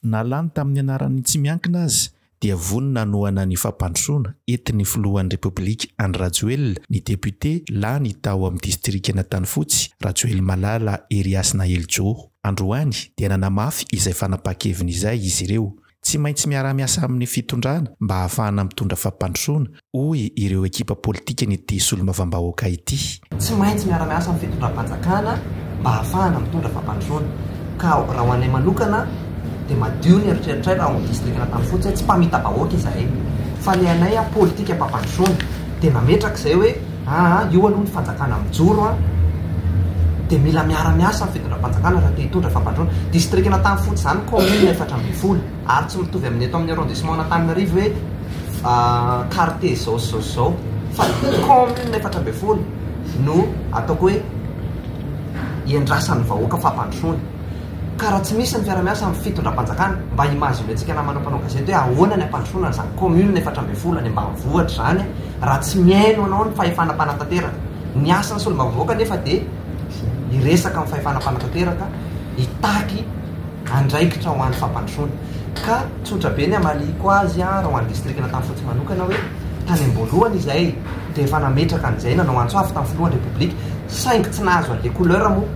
Na lany tamin'ny anaran'ny tsy miankina aza dia vonona hanohana ny fampandrosoana entin'ny filohan'ny Repoblika Andry Rajoelina ny depiote lany tao amin'ny distrikan'Antanifotsy, Rajoelimalala Heriasina Helijoho. Androany dia nanamafy izay fanapaha-keviny izay izy ireo. Tsy maintsy miara-miasa amin'ny fitondrana mba hahafahana mitondra fampandrosoana hoy ireo ekipa politikan'ity solombavambahoaka ity. Tsy maintsy miara-miasa amin'ny fitondram-panjakana mba hahafahana mitondra fampandrosoana. Ka raha ho anay manokana dia madio ny eritreritray raha ao amin'ny distrikan'Antanifotsy hoe tsy mpamita-bahoaka izahay fa ilay anay politikam-pampandrosoana dia nametraka izay hoe aa io aloha ny fanjakana mijoro an dia mila miara-miasa amin'ny fitondram-panjakana raha te hitondra fampandrosoana. Distrikan'Antanifotsy izany kaominina efatra ambin'ny folo. Ary tsy mitovy amin'ny eto amin'ny arrondissement an'Antananarivo hoe quartier izao sy izao sy izao fa ny commune efatra ambin'ny folo no ataoko hoe iandrasan'ny vahoaka fampandrosoana. Ka raha tsy misy ny fiarahamiasa amin'ny fitondram-panjakana, mba imaginentsika namana mpanao gazety hoe ahoana ny hampandrosoana an'izany commune efatra ambin'ny folo any ambanivohitra izany raha tsy mihaino anao ny fahefana mpanatanteraka. Ny asan'ny solombavambahoaka anefa dia hiresaka amin'ny fahefana mpanatanteraka, hitaky. andraikitra ho an'ny fampandrosoana. Ka tsotra be ny hamaliako azy raha ho an'ny distrika Anatanfotsy manokana hoe tany am-boalohany izahay dia efa nametraka an'izay nanao antso avo tamin'ny filohan'ny Repoblika saingy tsy nahazo an'ilay couleur moa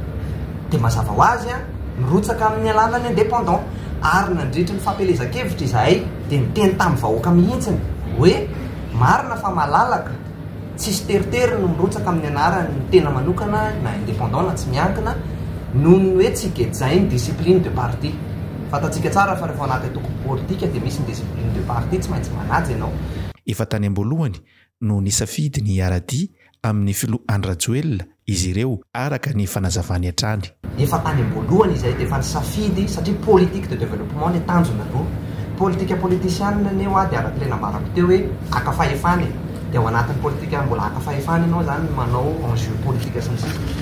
dia mazava ho azy nirotsaka amin'ny alalan'ny indépendant ary nandritry ny fampielezan-kevitra izahay dia niteny tamin'ny vahoaka mihitsy hoe marina fa malalaka Tsisy teritery no mirotsaka amin'ny anarany ny tena manokana na indépendant na tsy miankina noho ny hoe tsy gejain'ny discipline de parti. Fantatsika tsara fa rehefa ao anaty antoko politika dia misy ny discipline de parti, tsy maintsy manaja ianao. Efa tany am-boalohany no nisafidy ny hiara-dia amin'ny filoha Andry Rajoelina izy ireo araka ny fanazavany hatrany. Efa tany am-boalohany izahay dia efa nisafidy satria politique de développement anie tanjona aloha. Politika politisianina anie hoa dia araka ilay nambarako teo hoe haka fahefana e. Dia ao anatin'ny politika mbola haka fahefana ianao izany no manao enjeu politika sy ny sisa.